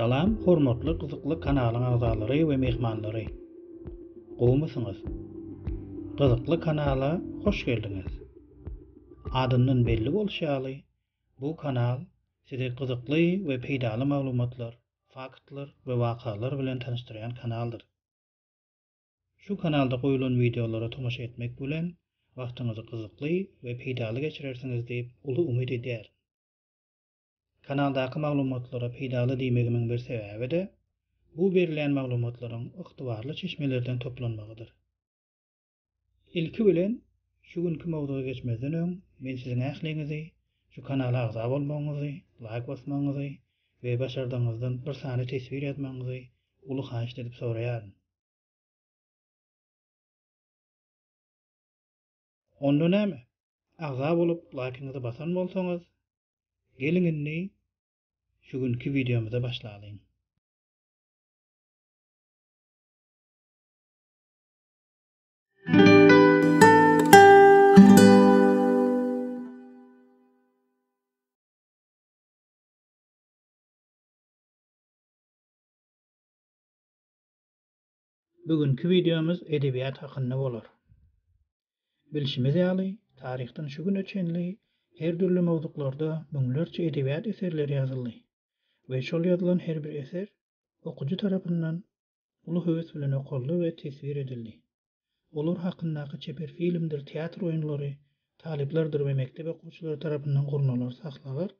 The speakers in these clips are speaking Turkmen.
Salam hormatly gyzykly kanalyň agzalary we mehmanlary. Gowmysyňyz? Gyzykly kanala hoş geldiňiz. Adyndan belli bolşy ýaly, Bu kanal sizi gyzykly we peýdaly maglumatlar, faktlar we wakalar bilen tanyşdyrýan kanaldyr. Şu kanalda goýulan wideolara tomaşa etmek bilen wagtyňyzy gyzykly we peýdaly geçirersiňiz diýip uly umyt edýärin. Kanaldaky maglumatlara peýdaly diýmegimiň bir sebäbi-de, bu berilýän maglumatlaryň ygtybarly çeşmelerden toplanmagydyr. Ilki bilen, şu günki mowzuga geçmezden öň, men siziň ähliňizi şu kanala agza bolmagyňyzy, laýk basmagyňyzy we başardygyňyzdan bir sany teswir ýazmagyňyzy uly haýyşt edip soraýaryn. Onda näme, agza bolup laýkyňyzy basan bolsaňyz, geliň indi şu günki wideomyza başlalyň. Bu günki wideomyz edebiýat hakynda bolar. Bilşimiz ýaly, taryhdan şu güne çenli her dürli mowzuklarda müňlerçe edebiýat eserleri ýazyldy we şol ýazylan her bir eser okyjy tarapyndan uly höwes bilen okaldy we teswir edildi. Olar hakyndaky çeper filmdir teatr oýunlary talyplardyr we mekdep okuwçylary tarapyndan gurnalar sahnalar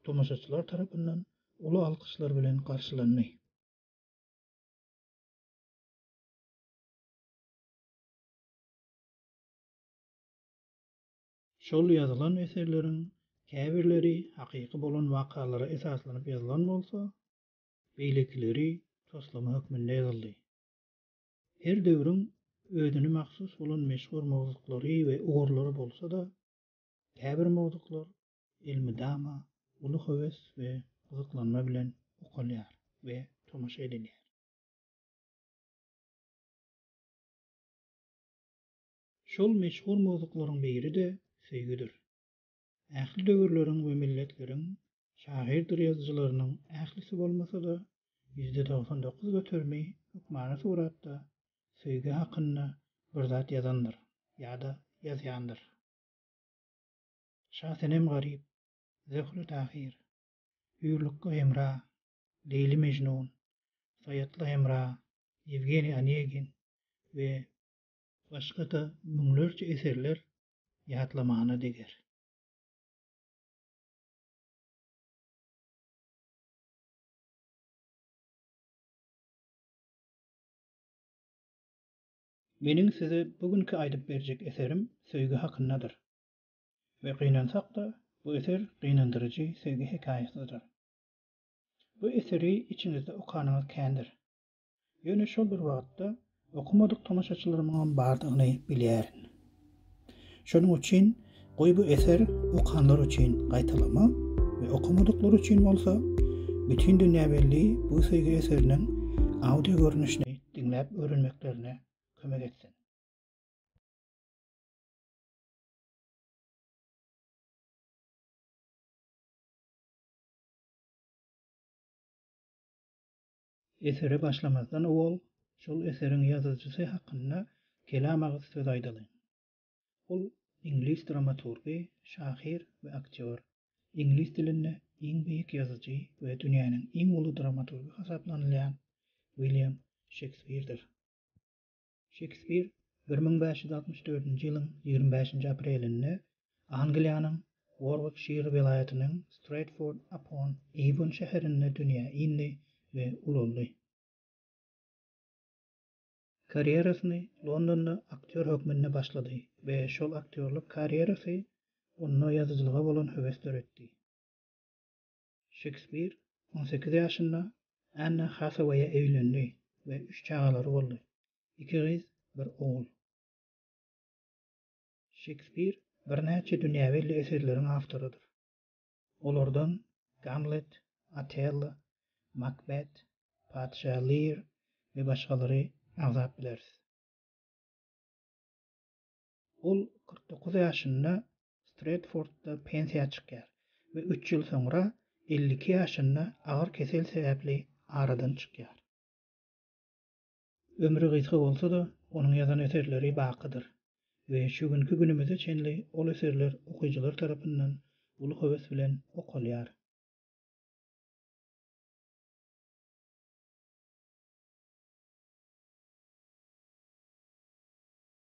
tomaşaçylar tarapyndan uly alkyşlar bilen garşylandy. Şol ýazylan eserleriň käbirleri hakyky bolan wakalara esaslanyp ýazylan bolsa, beýlekileri toslama hökmünde ýazyldy. Her döwrüň özüne mahsus bolan meşhur mowzuklary we ugurlary bolsa-da, käbir mowzuklar elmydama uly höwes we gyzyklanma bilen okalýar we tomaşa edilýär. Şol meşhur mowzuklaryň biri-de söýgüdir. Ähli döwürleriň we milletleriň şahyrdyr-ýazyjylarynyň ählisi bolmasa-da, ýüzde togsan dokuz göterimi hökmany suratda söýgi hakynda bir zat ýazandyr ýa-da ýazýandyr. Şasenem Garyp, Zöhre Tahyr, Hüýrlukga Hemra, Leýli Mejnun, Saýatly Hemra, Ýewgeniý Onegin we başga-da müňlerçe eserler ýatlamana deger. Meniň size bu günki aýdyp berjek eserim söýgi hakyndadyr. We gynansak-da, bu eser gynandyryjy söýgi hekaýasydyr. Bu eseri içiňizde okanyňyz kändir. Ýöne şol bir wagtda okamadyk tomaşaçylarymyňam bardygyny bilýärin. Şonuň üçin goý bu eser okanlar üçin gaýtalama we okamadyklar üçin bolsa bütin dünýä belli bu söýgi eseriniň audio görnüşini diňläp öwrenmeklerine kömek etsin. Esere başlamazdan owal şol eseriň ýazyjysy hakynda kelam agyz söz aýdalyň. Ol iňlis dramaturgy, şahyr we aktýor. Iňlis dilinde iň beýik ýazyjy we dünýäniň iň uly dramaturgy hasaplanylýan Wilýam Şekspirdir. Şekspir bir müň bäş ýüz altmyş dördünji ýylyň ýigrimi bäşinji aprelinde Angliýanyň Worwikşir welaýatynyň Stretford upon Eýwon şäherinde dünýä indi we ulaldy. Karýerasyny Londonda aktýor hökmünde başlady we şol aktýorlyk karýerasy onda ýazyjylyga bolan höwes döretdi. Şekspir on sekiz ýaşynda Anne Hasaweýe öýlendi we üç çagalary boldy, iki gyz, bir ogul. Şekspir birnäçe dünýä belli eserleriň awtorydyr. Olardan Gamlet, Otello, Makbet, Patyşa Lear we başgalary agzap bileris. Ol kyrk dokuz ýaşynda Stretfordda pensiýa çykýar we üç ýyl soňra elli iki ýaşynda agyr kesel sebäpli aradan çykýar. Ömri gysga bolsa-da, onuň ýazan eserleri bakydyr we şu günki günümize çenli ol eserler okyjylar tarapyndan uly höwes bilen okalýar.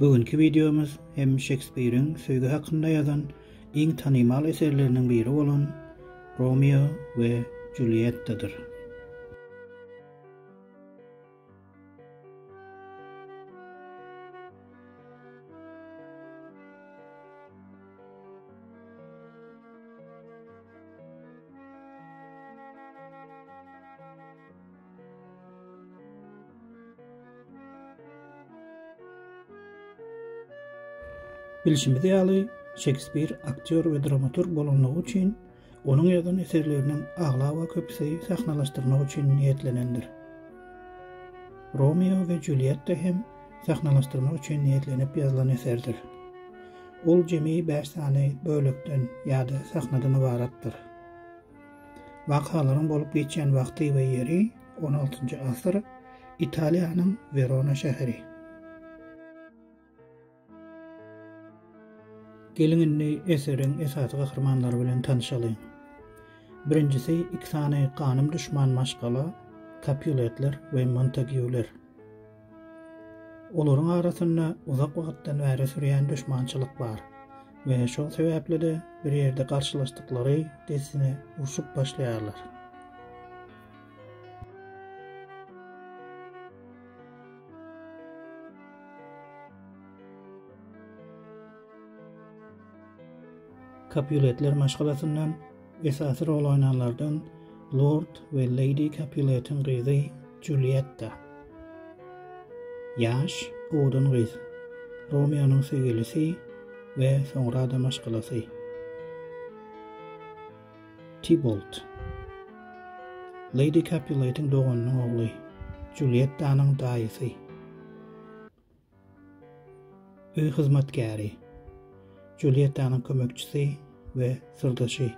Bu günki wideomyz hem Şekspiriň söýgi hakynda ýazan iň tanymal eserleriniň biri bolan Romeo we Juliettadyr. Bilşimiz ýaly, Şekspir aktýor we dramaturg bolanlygy üçin, onuň ýazan eserleriniň aglaba köpüsi sahnalaşdyrmak üçin niýetlenendir. Romeo we Julietta hem sahnalaşdyrmak üçin niýetlenip ýazylan eserdir. Ol jemi bäş sany bölekden ýa-da sahnadan ybaratdyr. Wakalaryň bolup geçýän wagty we ýeri, on altynjy asyr, Italiýanyň Werona şäheri. Geliň indi eseriň esasy gahrymanlary bilen tanyşalyň. Birinjisi iki sany ganym duşman maşgala, Kapýuletler we Montagýuler. Olaryň arasynda uzak wagtdan bäri sürýän duşmançylyk bar we şol sebäpli-de bir ýerde garşylaşdyklary dessine urşup başlaýarlar. Kapuletler maşgalasyndan Esasy rol oýnanlardan lord we leýdi Kapuletiň gyzy Julietta. Ýaş, owadan gyz. Romeonyň söýgülisi we soňra-da maşgalasy. Tibolt. Leýdi Kapuletiň doganynyň ogly, Juliettanyň daýysy. Öý hyzmatkäri, Juliýettanyň kömekçisi we syrdaşy.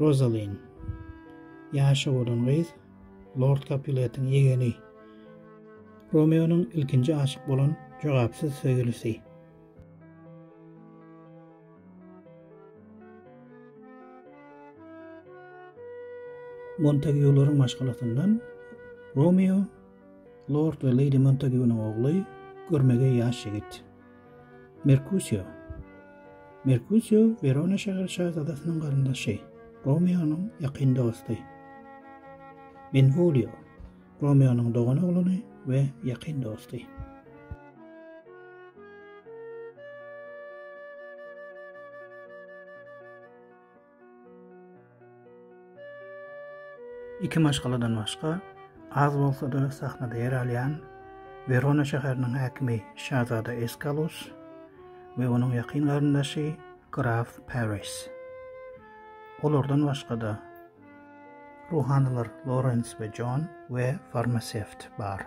Rozalin, ýaşy bolan gyz, lord Kapuletiň ýegeni. Romeonyň ilkinji aşyk bolan jogapsyz söýgülisi. Montagiularyň maşgalasyndan Romeo Lord we Leýdi Montagunyň ogly, görmegeý ýaş ýigit. Merkusio. Merkusio Werona şäher şazadasynyň garyndaşy, Romeonyň ýakyn dosty. Benvolio. Romeonyň dogan oglany we ýakyn dosty. Iki maşgaladan başga, az bolsa-da sahnada ýer alýan Werona şäheriniň häkimi şazada Eskalus we onuň ýakyn garyndaşy graf Paris. Olardan başga-da, ruhanylar Lorens we Jon we farmasewt bar.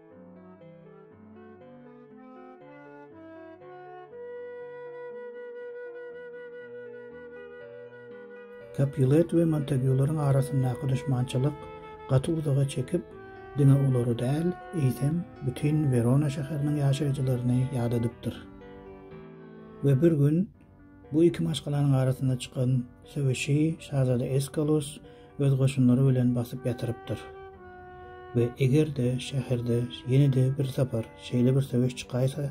Kapulet we Montagyularyň arasyndaky düşmançylyk gaty uzaga çekip, diňe olary däl, eýsem, bütin Werona şäheriniň ýaşaýjylaryny ýadadypdyr. We bir gün Bu iki maşgalanyň arasynda çykan söweşi şazada Eskalus öz goşunlary bilen basyp ýatyrypdyr we eger-de şäherde ýene-de bir sapar şeýle bir söweş çykaýsa,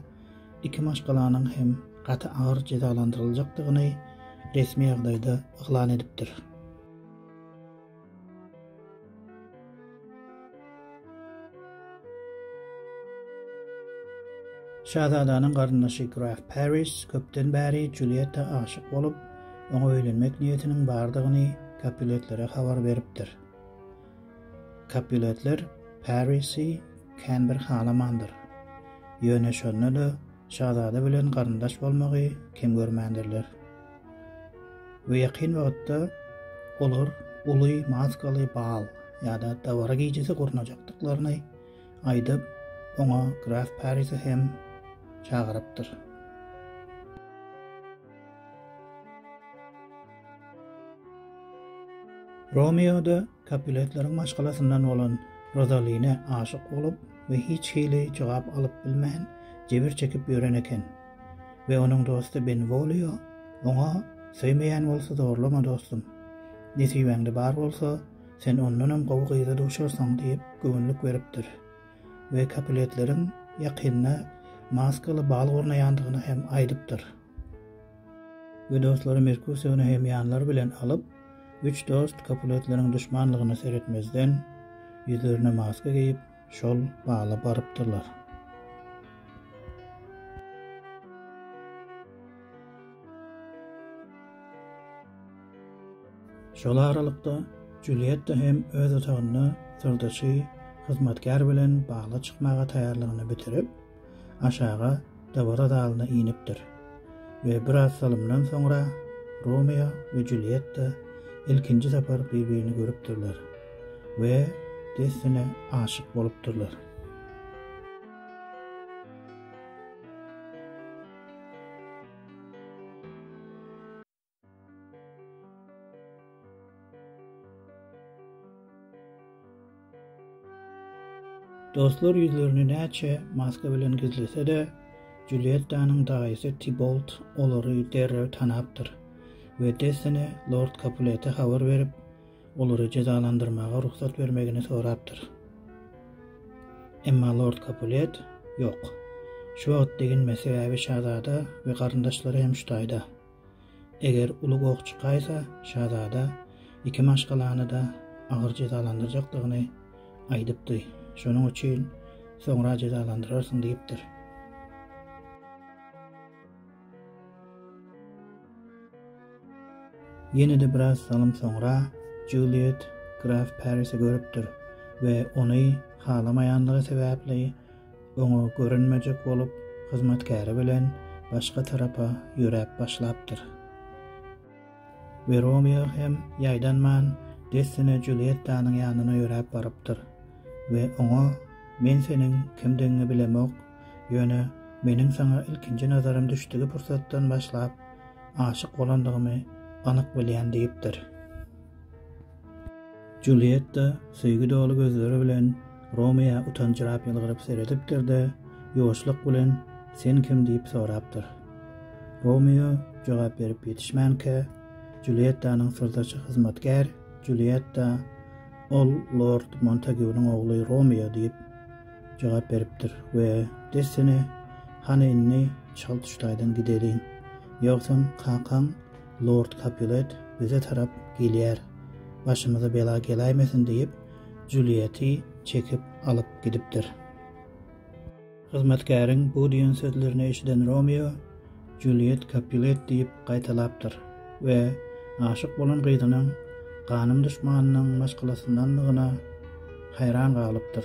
iki maşgalanyň hem gaty agyr jezalandyryljakdygyny resmi ýagdaýda yglan edipdir. Şazadanyň garyndaşy graf Paris köpden bäri Julietta aşyk bolup, oňa öýlenmek niýetiniň bardygyny Kapuletlere habar beripdir. Kapuletler Parisi kän bir halamandyr. Ýöne şonda-da şazada bilen garyndaş bolmagy kem görmändirler. we ýakyn wagtda olar uly maskaly bal ýa-da dabara gijesi gurnajakdyklaryny aýdyp, oňa graf Parisi hem çagyrypdyr. Romeo-da Kapuletleriň maşgalasyndan bolan Rozaline aşyk bolup we hiç hili jogap alyp bilmän jebir çekip ýören eken we onuň dosty Benwolio oňa Söýmeýän bolsa zorlama dostum. Nesibäňde bar bolsa sen ondanam gowy gyza duşarsyň diýip göwünlik beripdir we Kapuletleriň ýakynda maskaly bal gurnaýandygyny hem aýdypdyr. We dostlary Merkusiony hem ýanlary bilen alyp, üç dost Kapuletleriň duşmanlygyna seretmezden, ýüzlerine maska geýip, şol bala barypdyrlar. Şol aralykda, Julietta hem öz otagynda syrdaşy, hyzmatkär bilen bala çykmaga taýýarlygyny bitirip, aşaga dabara zalyna inipdir we biraz salymdan soňra Romeo we Julietta ilkinji sapar bir-birini görüpdirler we dessine aşyk bolupdyrlar. Dostlar ýüzlerini näçe maska bilen gizlese-de, Juliýettanyň daýysy Tibolt olary derrew tanapdyr we dessine lord Kapulete habar berip, olary jezalandyrmaga rugsat bermegini sorapdyr. Emma lord Kapulet, Ýok. Şu wagt deginme, sebäbi şazada we garyndaşlary hem şu taýda. Eger uly goh çykaýsa, şazada iki maşgalany-da agyr jezalandyrjakdygyny aýdypdy, şonuň üçin soňra jezalandyrarsyň diýipdir. Ýene-de biraz salym soňra Juliet graf Parisi görüpdir we ony halamaýanlygy sebäpli oňa görünmejek bolup, hyzmatkäri bilen başga tarapa ýöräp başlapdyr. We Romeo hem ýaýdanman dessine Juliýettanyň ýanyna ýöräp barypdyr we oňa, Men seniň kimdigiňi bilemok, ýöne meniň saňa ilkinji nazarym düşdügi pursatdan başlap aşyk bolandygymy anyk bilýän diýipdir. Julietta söýgi doly gözleri bilen Romeoa utanjyrap ýylgyryp seredipdir-de, ýuwaşlyk bilen Sen kim? diýip sorapdyr. Romeo jogap berip ýetişmänkä, Juliettanyň syrdaşy hyzmatkär Julietta Ol lord Montagunyň ogly Romeo diýip jogap beripdir we dessine Hany indi çal tuşlaýdan gideliň, ýogsam kakaň Lord Kapulet bize tarap gelýär, başymyza bela geläýmesin diýip, Julieti çekip alyp gidipdir. Hyzmatkäriň bu diýen sözlerini eşiden Romeo, Juliet Kapulet diýip gaýtalapdyr we aşyk bolan gyzynyň ganym duşmanynyň maşgalasyndandygyna haýran galypdyr.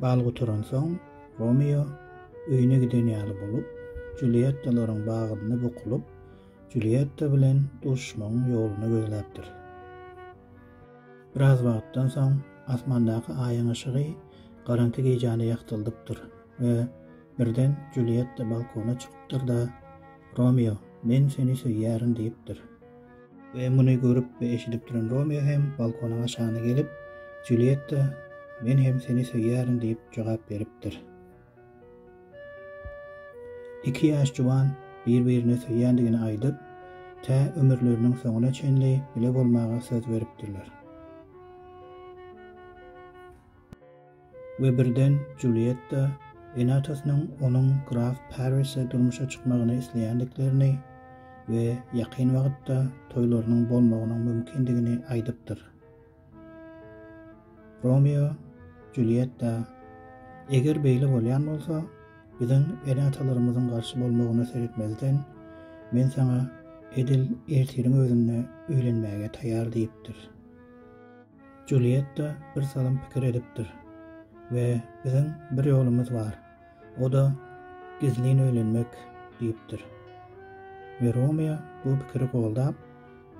Bal gutaransoň, Romeo öýüne giden ýaly bolup, Julýettalaryň bagynda bukulyp, Julýetta bilen duşuşmagyň ýoluny gözläpdir. Biraz wagtdan soň, asmandaky Aýyň yşygy garaňky gijäni ýagtyldypdyr we birden Julýetta balkona çykypdyr-da, Romeo, men seni söýýärin diýipdir. We muny görüp we eşidip duran Romeo hem balkonyň aşagyna gelip, Julietta, men hem seni söýýärin diýip jogap beripdir. Iki ýaş juwan bir-birine söýýändigini aýdyp, tä ömürleriniň soňuna çenli bile bolmaga söz beripdirler. We birden Julietta ene-atasynyň onuň graf Parrise durmuşa çykmagyny isleýändiklerini we ýakyn wagtda toýlarynyň bolmagynyň mümkindigini aýdypdyr. Romeo Julietta, Eger beýle bolýan bolsa, biziň ene-atalarymyzyň garşy bolmagyna seretmezden, men saňa edil ertiriň özünde öýlenmäge taýýar diýipdir. Julietta birsalym pikir edipdir we Biziň bir ýolumyz bar, o-da gizlin öýlenmek diýipdir. We Romeo bu pikiri goldap,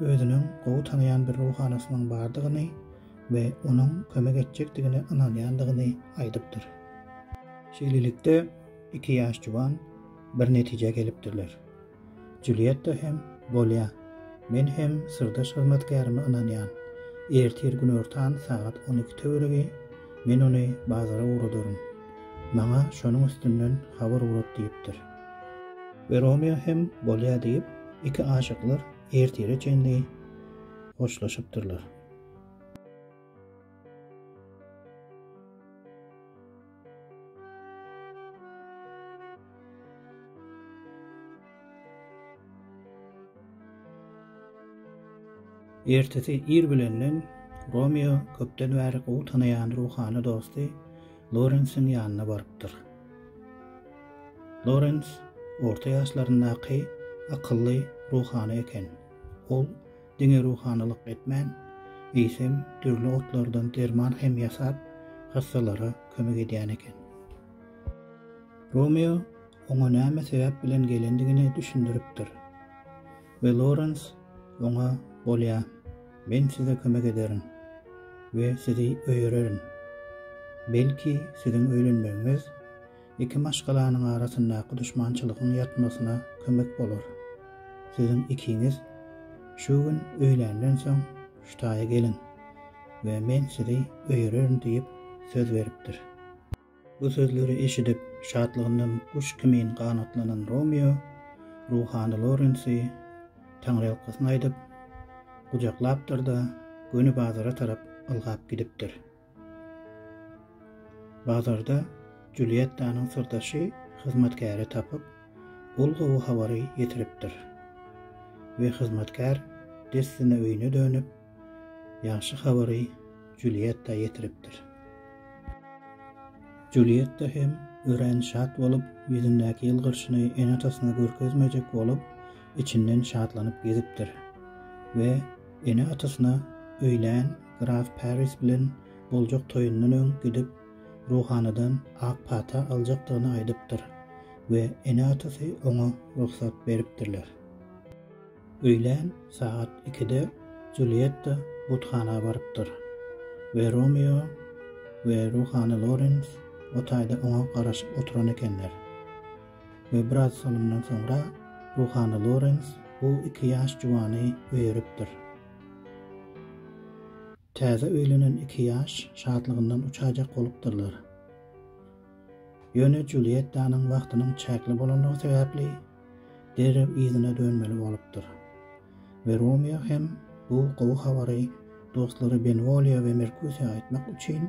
özüniň gowy tanaýan bir ruhanasynyň bardygyny we onuň kömek etjekdigine ynanýandygyny aýdypdyr. Şeýlelikde, iki ýaş juwan bir netijä gelipdirler. Julietta hem, Bolýa. Men hem syrdaş hyzmatkärime ynanýan. Ertir günortan sagat on iki töweregi men ony bazara ugradaryn. Maňa şonuň üstünden habar ugrat diýipdir. We Romeo hem, Bolýa diýip, iki aşyklar ertire çenli hoşlaşypdyrlar. Ertesi ir bilenden Romeo köpden bäri gowy tanaýan ruhany dosty Lorensiň ýanyna barypdyr. Lorens orta ýaşlaryndaky akylly ruhany eken. Ol diňe ruhanylyk etmän, eýsem, dürli otlardan derman hem ýasap, hassalara kömek edýän eken. Romeo oňa näme sebäp bilen gelendigini düşündiripdir we Lorens oňa Bolýa, men size kömek ederin we sizi öýererin. Belki, siziň öýlenmegiňiz Iki maşgalanyň arasyndaky duşmançylygyň ýatmasyna kömek bolar. Siziň ikiňiz şu gün öýländen soň Ştaýa geliň we men sizi öýererin diýip söz beripdir. Bu sözleri eşidip, şatlygyndan guş kimin ganatlanan Romeo ruhany Lorensi taňryýalkasyn aýdyp, gujaklapdyr-da, göni bazara tarap ylgap gidipdir. Bazarda Julýettanyň syrdaşy hyzmatkäri tapyp, ol gowy habary ýetiripdir we hyzmatkär dessine öýüne dönüp, ýagşy habary Julýetta ýetiripdir. Julýetta hem örän şat bolup, ýüzündäki ýylgyrşyny ene-atasyna görkezmejek bolup, içinden şatlanyp gezipdir we ene-atasyna öýlän Graf Paris bilen boljak toýundan öň gidip, ruhanydan ak pata aljakdygyny aýdypdyr we ene-atasy oňa rugsat beripdirler. Öýlän sagat ikide Julietta buthana barypdyr we Romeo we ruhany Lorens o taýda oňa garaşyp oturan ekenler we biraz salymdan soňra ruhany Lorens bu iki ýaş juwany öýeripdir. Täze öýlenen iki ýaş şatlygyndan uçajak bolupdyrlar. Ýöne Julýettanyň wagtynyň çäkli bolandygy sebäpli derrew yzyna dönmeli bolupdyr we Romeo hem bu gowy habary dostlary Benwolýa we Merkusiýa aýtmak üçin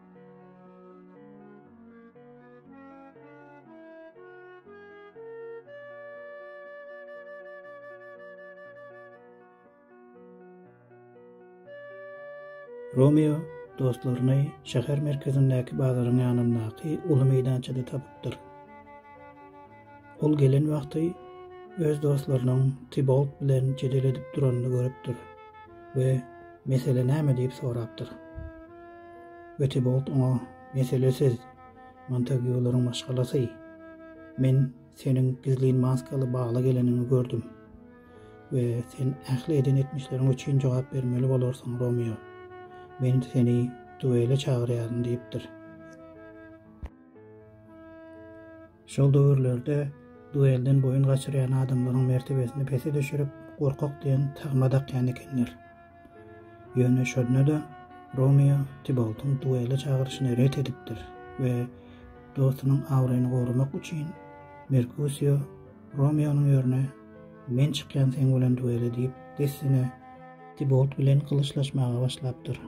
Romeo dostlaryny şäher merkezindäki bazaryň ýanyndaky uly meýdançada tapypdyr. Ol gelen wagty öz dostlarynyň Tibolt bilen jedel edip duranyny görüpdir we Mesele näme diýip sorapdyr. We Tibolt oňa Mesele siz, Montagiýularyň maşgalasy. Men seniň gizlin maskaly bala geleniňi gördüm. We sen ähli eden etmişleriň üçin jogap bermeli bolarsyň, Romeo. Men seni duele çagyrýaryn diýipdir. Şol döwürlerde duelden boýun gaçyrýan adamlaryň mertebesini pese düşürip, gorkak diýen tagma dakýan ekenler. Ýöne şonda-da Romeo Tiboltyň duele çagyryşyny ret edipdir we dostunyň abraýyny goramak üçin Merkusio Romeonyň ýerine Men çykýan seň bilen duele diýip dessine Tibolt bilen gylyçlaşmaga başlapdyr.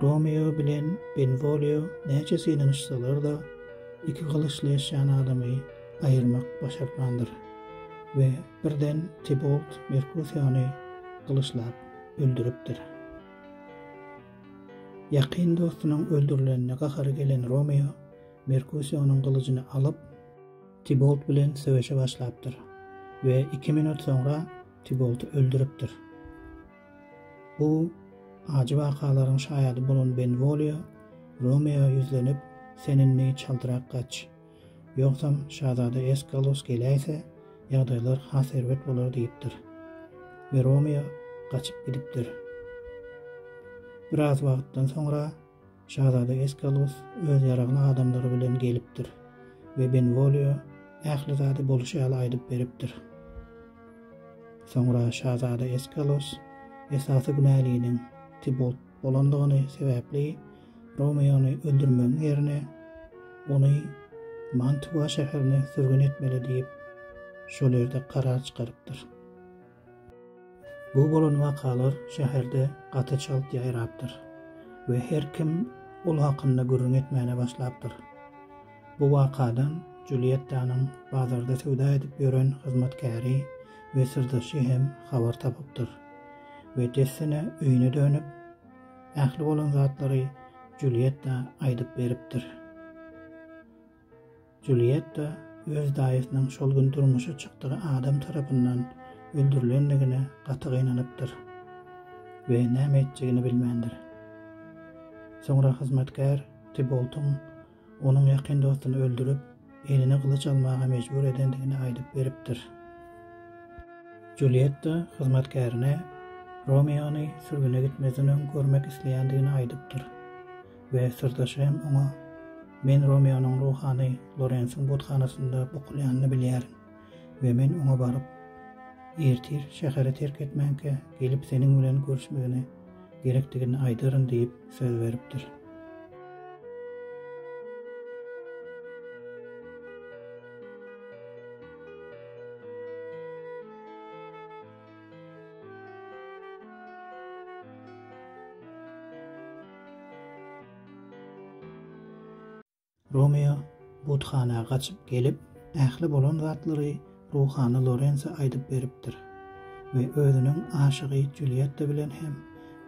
Romeo bilen Benwolio näçe synanyşsalar-da, iki gylyçleşýän adamy aýyrmak başartmandyr we birden Tibolt Merkusiony gylyçlap öldüripdir. Ýakyn dostunyň öldürilenine gahary gelen Romeo Merkusionyň gylyjyny alyp, Tibolt bilen söweşe başlapdyr we iki minut soňra Tiboldy öldüripdir. Bu ajy wakalaryň şaýady bolan Benwolio Romeoa ýüzlenip, Sen indi çaltrak gaç. Ýogsam, şazada Eskalus geläýse, ýagdaýlar has erbet bolar diýipdir. We Romeo gaçyp gidipdir. Biraz wagtdan soňra Şazada Eskalus öz ýaragly adamlary bilen gelipdir we Benwolio ähli zady bolşy ýaly aýdyp beripdir. Soňra şazada Eskalus esasy günäliniň Tibolt bolandygyny sebäpli Romeony öldürmegiň ýerine ony Mantua şäherine sürgün etmeli diýip, şol ýerde karar çykarypdyr. Bu bolan wakalar şäherde gaty çalt ýaýrapdyr we her kim ol hakynda gürrüň etmäne başlapdyr. Bu wakadan Juliettanyň bazarda söwda edip ýören hyzmatkäri we syrdaşy hem habar tapypdyr we dessine öýüne dönüp, ähli bolan zatlary Julietta aýdyp beripdir. Julietta öz daýysynyň şol gün durmuşa çykdygy adam tarapyndan öldürilendigine gaty gynanypdyr we näme etjegini bilmändir. Soňra hyzmatkär Tiboltyň onuň ýakyn dostuny öldürip, eline gylyç almaga mejbur edendigini aýdyp beripdir. Julietta hyzmatkärine Romeony sürgüne gitmezden öň görmek isleýändigini aýdypdyr. we syrdaşy hem oňa, Men Romeonyň ruhany Lorensiň buthanasynda bukulýanyny bilýärin we men oňa baryp, ertir şäheri terk etmänkä gelip seniň bilen görüşmegine gerekdigini aýdaryn diýip söz beripdir. Romeo buthana gaçyp gelip, ähli bolan zatlary ruhany Lorense aýdyp beripdir we özüniň aşygy Julietta bilen hem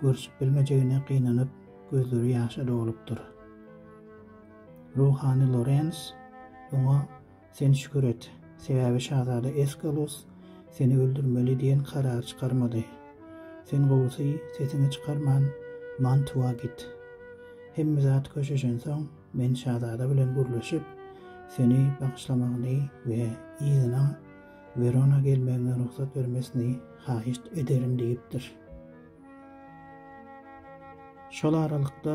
görşüp bilmejegine gynanyp, gözleri ýaşa dolupdyr. Ruhany Lorens oňa Sen şükür et, sebäbi şazada Eskalus seni öldürmeli diýen karar çykarmady. Sen gowusy, sesiňi çykarman, Mantua git. Hemme zat köşeşensoň, men şazada bilen gürleşip, seni bagyşlamagyny we yzyna Werona gelmegiňe rugsat bermesini haýyşt ederin diýipdir. Şol aralykda,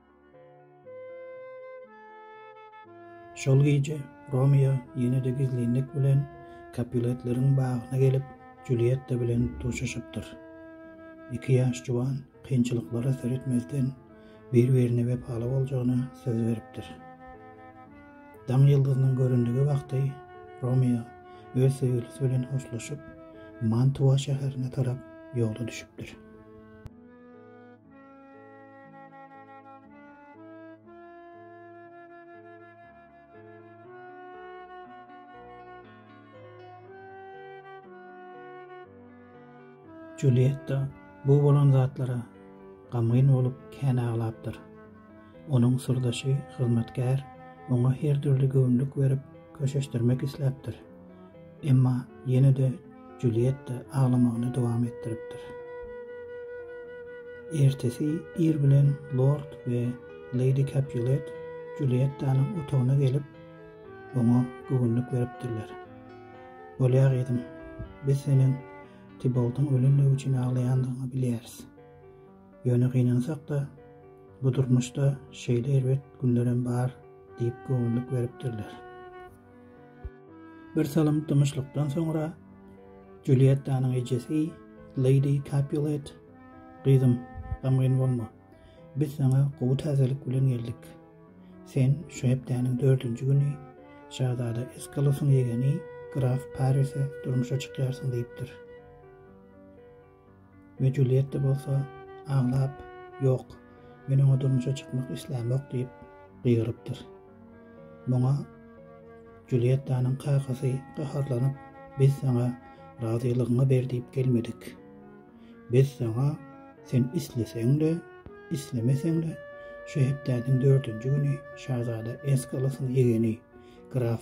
Şol gije Romeo ýene-de gizlinlik bilen Kapuletleriň bagyna gelip, Julietta bilen duşuşypdyr. Iki ýaş juwan kynçylyklara seretmezden, bir-birine wepaly boljagyna söz beripdir. Daň ýyldyzynyň göründigi wagty Romeo öz söýgülisi bilen hoşlaşyp, Mantua şäherine tarap ýola düşüpdir. Julietta bu bolan zatlara gamgyn bolup kän aglapdyr. Onuň syrdaşy, hyzmatkär, oňa her dürli göwünlik berip, köşeşdirmek isläpdir. Emma ýene-de Julietta aglamagyny dowam etdiripdir. Ertesi ir bilen lord we leýdi Kapulet Juliettanyň otagyna gelip, oňa göwünlik beripdirler. Bolýa, gyzym, biz seniň Tiboldyň ölendigi üçin aglaýandygyňy bilýäris. Ýöne gynansak-da, bu durmuşda şeýle erbet günlerem bar diýip göwünlik beripdirler. Birsalym dymyşlykdan soňra Juliettanyň ejesi Lady Capulet, Gyzym, gamgyn bolma. Biz saňa gowy täzelik bilen geldik. Sen şu hepdäniň dördünji güni şazada Eskalosyň ýegeni graf Parise durmuşa çykýarsyň diýipdir. We Julietta bolsa aglap, Ýok, men oňa durmuşa çykmak islämok diýip gygyrypdyr. Muňa Juliettanyň kakasy gaharlanyp, Biz saňa razylygyňy ber diýip gelmedik. Biz saňa sen isleseň-de, islemeseň-de şu hepdäniň dördünji güni şazada Eskalasyň ýegeni, graf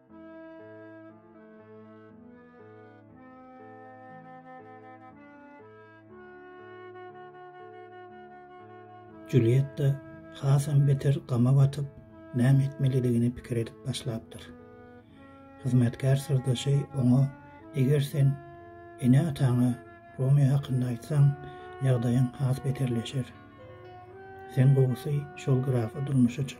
Julietta hasam beter gama batyp, näme etmelidigini pikir edip başlapdyr. Hyzmatkär syrdaşy oňa, Eger sen ene-ataňa Romeo hakynda aýtsaň, ýagdaýyň has beterleşer. Sen gowusy şol grafa durmuşa çyk.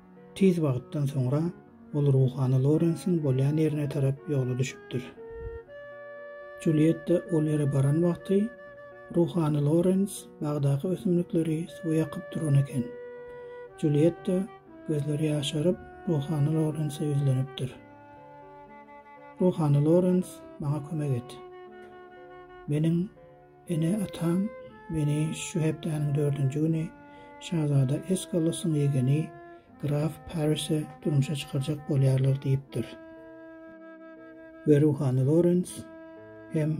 Tiz wagtdan soňra ol ruhany Lorensiň bolýan ýerine tarap ýola düşüpdir. Julietta ol ýere baran wagty ruhany Lorens bagdaky ösümlikleri suwa ýakyp duran eken. Julietta gözleri ýaşaryp ruhany Lorense ýüzlenipdir. Ruhany Lorens, maňa kömek et. Meniň Ene-atam meni şu hepdäniň dördünji güni şazada Eskalosyň ýegeni graf Parise durmuşa çykarjak bolýarlar diýipdir. We ruhany Lorens hem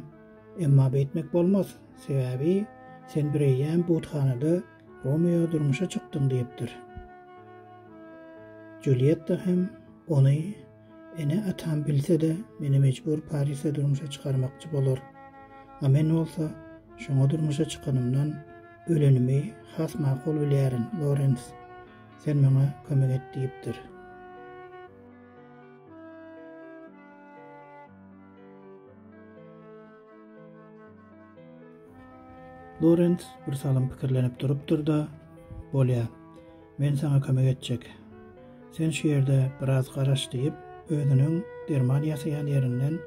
Emma beýtmek bolmaz, sebäbi sen bireýýäm buthanada Romeo durmuşa çykdyň diýipdir. Julietta hem ony Ene-atam bilse-de, meni mejbur Parisde durmuşa çykarmakçy bolar. A men bolsa, şoňa durmuşa çykanymdan ölenimi has makul bilýärin, Lorens, sen maňa kömek et diýipdir. Lorens birsalym pikirlenip durupdyr-da, Bolýar. Men saňa kömek etjek. Sen şu ýerde biraz garaş, diýip, özüniň derman ýasaýan ýerinden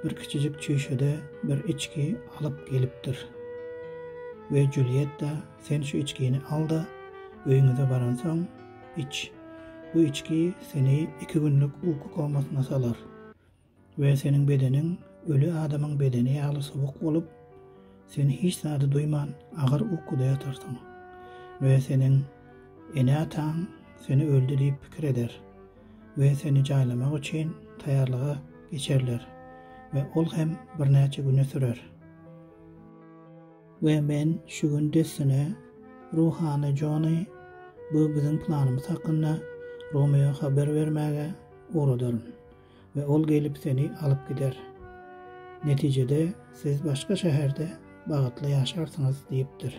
bir kiçijik çüýşede bir içgi alyp gelipdir. We Julietta, sen şu içgini al-da, öýüňize baransoň, iç. Bu içgi seni iki günlük uky komasyna salar. We seniň bedeniň öli adamyň bedeni ýaly sowuk bolup, sen hiç zady duýman agyr ukuda ýatarsyň. We seniň ene-ataň seni öldi diýip pikir eder we seni jaýlamak üçin taýýarlyga geçerler we ol hem birnäçe güne sürer. We men şu gün dessine ruhany Jony bu biziň planymyz hakynda Romeo haber bermäge ugradaryn. we ol gelip seni alyp gider. Netijede, siz başga şäherde bagytly ýaşarsyňyz diýipdir.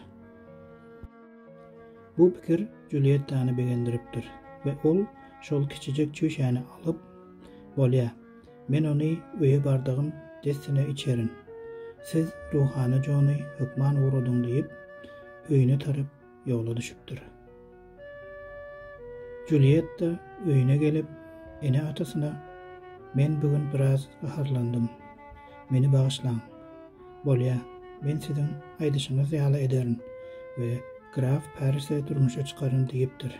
Bu pikir Juliettany begendiripdir we ol şol kiçijek çüýşäni alyp, Bolýa, men ony öýe bardygym dessine içerin. Siz ruhany Jony hökman ugradyň diýip, öýüne tarap ýola düşüpdir. Julietta öýüne gelip, ene-atasyna, Men bu gün biraz gaharlandym. Meni bagyşlaň. Bolýa, men siziň aýdyşyňyz ýaly ederin we graf Parisi durmuşa çykaryn diýipdir.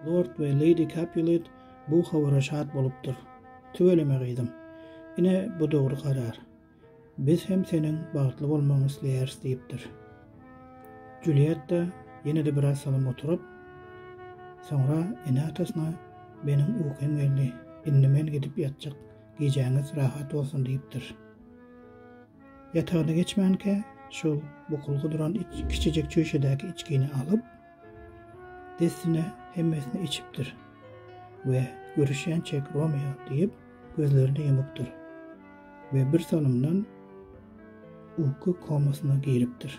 Lord we Lady Capulet bu habara şat bolupdyr. Tüweleme gyzym. Ine bu dogry karar. Biz hem seniň bagtly bolmagyňy isleýäris diýipdir. Julietta ýene-de biraz salym oturyp, soňra ene-atasyna Meniň ukym geldi, indi men gidip ýatjak, gijäňiz rahat bolsun diýipdir. Ýatagyna geçmänkä, şol bukulgy duran kiçijek çüýşedäki içgini alyp, Dessine hemmesini içipdir we görüşýänçäk Romeo diýip, gözlerini ýumupdyr we birsalymdan uky komasyna giripdir.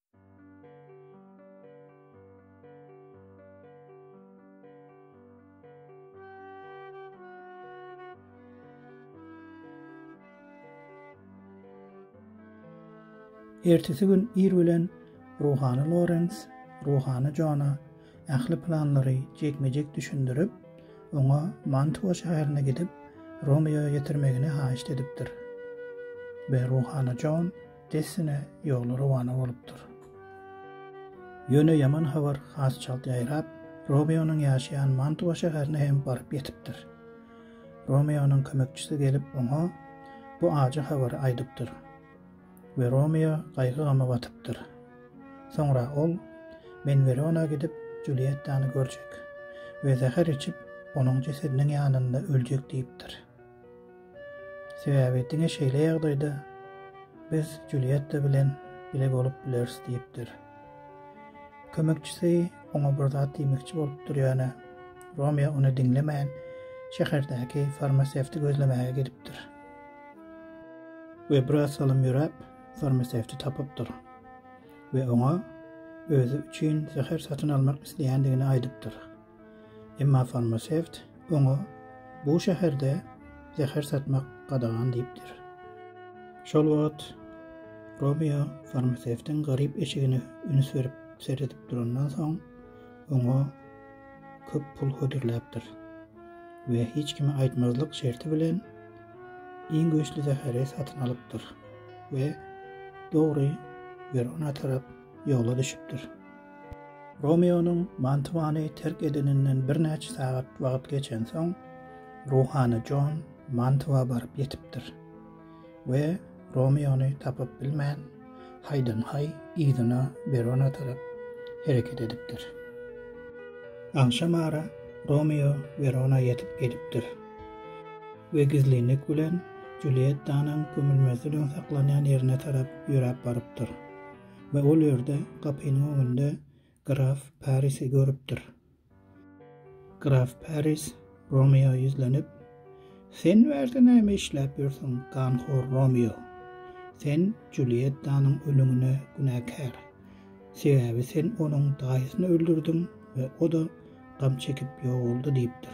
Ertesi gün ir bilen ruhany Lorens ruhany Jona ähli planlary jekme-jek düşündirip, oňa Mantua şäherine gidip, Romeoýa ýetirmegini haýyşt edipdir. We ruhany Jon Dessine ýola rowana bolupdyr. Ýöne ýaman habar has çalt ýaýrap, Romeonyň ýaşaýan Mantua şäherine hem baryp ýetipdir. Romeonyň kömekçisi gelip oňa bu ajy habary aýdypdyr we Romeo gaýgy-gama batypdyr. Soňra ol, Men Werona gidip, Juliýettany görjek we zäher içip, onuň jesediniň ýanynda öljek diýipdir. Sebäbi diňe şeýle ýagdaýda biz Julietta bilen bile bolup bileris diýipdir. Kömekçisi oňa bir zat diýmekçi bolupdyr ýöne Romeo ony diňlemän şäherdäki farmasewti gözlemäge gidipdir. We biraz salym ýöräp farmasewti tapypdyr. We oňa özi üçin zäher satyn almak isleýändigini aýdypdyr. Emma farmasewt oňa bu şäherde zäher satmak gadagan diýipdir. Şol wagt Romeo farmasewtiň garyp eşigine üns berip seredip durandan soň, oňa köp pul hödürläpdir we hiç kime aýtmazlyk şerti bilen iň güýçli zäheri satyn alypdyr we dogry Werona tarap ýola düşüpdir. Romeonyň Mantuany terk edeninden birnäçe sagat wagt geçensoň, ruhany Jon Mantua baryp ýetipdir we Romeony tapyp bilmän, haýdan-haý yzyna Werona tarap hereket edipdir. Agşam ara Romeo Werona ýetip gelipdir we gizlinlik bilen Juliýettanyň gömülmesi üçin saklanýan ýerine tarap ýöräp barypdyr. we ol ýerde gapynyň öňünde graf Parisi görüpdir. Graf Paris Romeo ýüzlenip, Sen bu ýerde näme işläp ýörsüň, ganhor Romeo? Sen Juliettanyň ölümine günäkär. Sebäbi sen onuň daýysyny öldürdiň we o-da gam çekip ýogaldy diýipdir.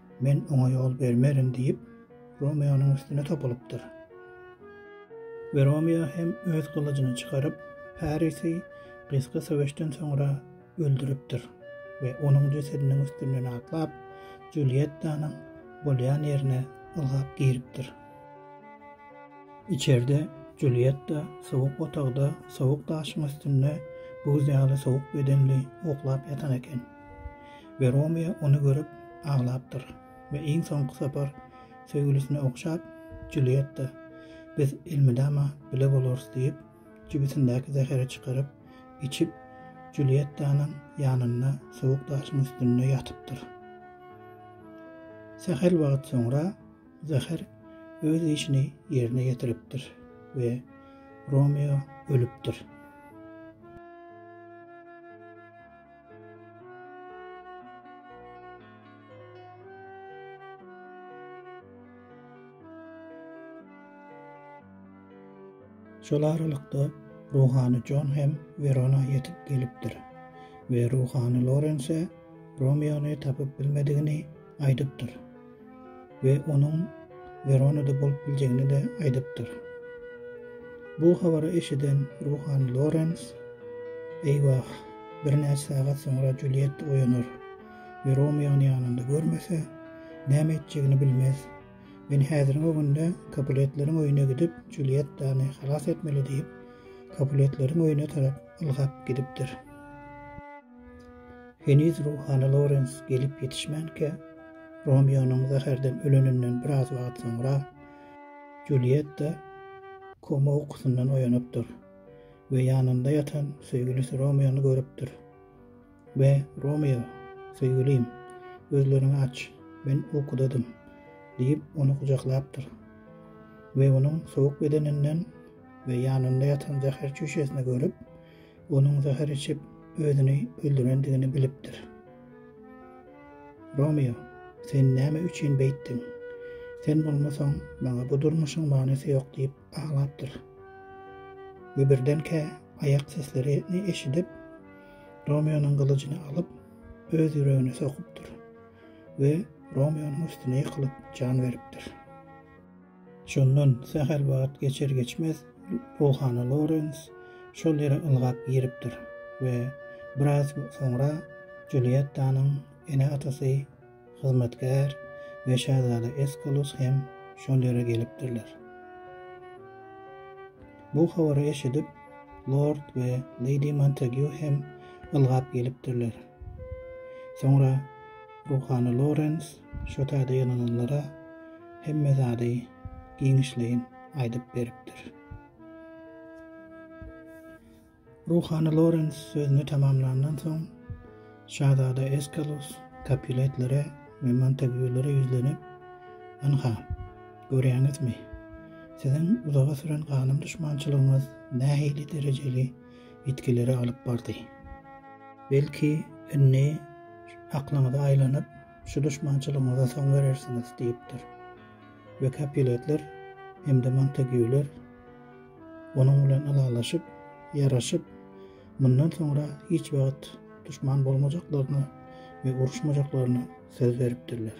Men oňa ýol bermerin diýip, Romeonyň üstüne topulypdyr. We Romeo hem öz gylyjyny çykaryp, Parisi gysga söweşden soňra öldüripdir we onuň jesediniň üstünden atlap, Juliýettanyň bolýan ýerine ylgap giripdir. Içerde Juliýetta sowuk otagda sowuk daşyň üstünde buz ýaly sowuk bedenli uklap ýatan eken. we Romeo ony görüp aglapdyr we iň soňky sapar söýgülisine ogşap, Julietta, biz elmydama bile bolarys diýip, jübüsindäki zäheri çykaryp, içip, Juliettanyň ýanynda sowuk daşyň üstünde ýatypdyr. Sähel wagt soňra zäher öz işini ýerine ýetiripdir we Romeo ölüpdir. Şol aralykda ruhany Jon hem Werona ýetip gelipdir we ruhany Lorense Romeony tapyp bilmedigini aýdypdyr we onuň Weronada bolup biljegini-de aýdypdyr. Bu habary eşiden ruhany Lorens, Eýwah, birnäçe sagat soňra Juliet oýanar we Romeony ýanynda görmese, näme etjegini bilmez. Men häziriň öňünde Kapuletleriň öýüne gidip, Julietdany halas etmeli diýip, Kapuletleriň öýüne tarap ylgap gidipdir. Heniz ruhany Lorens gelip ýetişmänkä, Romeonyň zäherden öleninden biraz wagt soňra, Julietta koma ukusyndan oýanypdyr we ýanynda ýatan söýgülisi Romeony görüpdir we Romeo, söýgülim, gözleriňi aç, men ukudadym diýip, ony gujaklapdyr we onuň sowuk bedeninden we ýanynda ýatan zäher çüýşesini görüp, Onuň zäher içip, özüni öldürendigini bilipdir. Romeo, sen näme üçin beýtdiň? Sen bolmasaň, maňa bu durmuşyň manysy ýok diýip aglapdyr. We birdenkä aýak seslerini eşidip, Romeonyň gylyjyny alyp, öz ýüregine sokupdyr we Romeonyň üstüne ýykylyp jan beripdir. Şondan sähel wagt geçer-geçmez ruhany Lorens şol ýere ylgap giripdir we biraz soňra Juliettanyň ene-atasy, hyzmatkär we şazada Eskalus hem şol ýere gelipdirler. Bu habary eşidip, lord we leýdi Montegýu hem ylgap gelipdirler. Soňra ruhany Lorens Şo täze ýylananlara hemme zady giňişleýin aýdyp beripdir. Ruhany Lorens sözüni tamamlandan soň, şazada Eskalus Kapuletlere we Montaguelere ýüzlenip, Ynha, görýäňizmi, siziň uzaga süren ganym duşmançylygyňyz nähili derejeli ýitgilere alyp bardy. Belki, indi aklyňyza aýlanyp, Şu duşmançylygyňyza soň berersiňiz diýipdir. We Kapiletler hem-de Montagiýuler onuň bilen ylalaşyp, ýaraşyp, mundan soňra hiç wagt duşman bolmajaklaryna we uruşmajaklaryna söz beripdirler.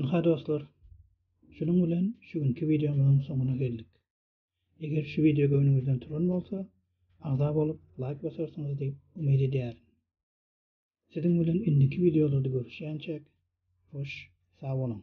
Ynha dostlar, şunuň bilen şu günki wideomyzyň soňuna geldik. Eger şu wideo göwnüňizden turan bolsa, agza bolup, laýk basarsyňyz diýip umyt edýärin. Siziň bilen indiki wideolarda görüşýänçäk, hoş, sag boluň!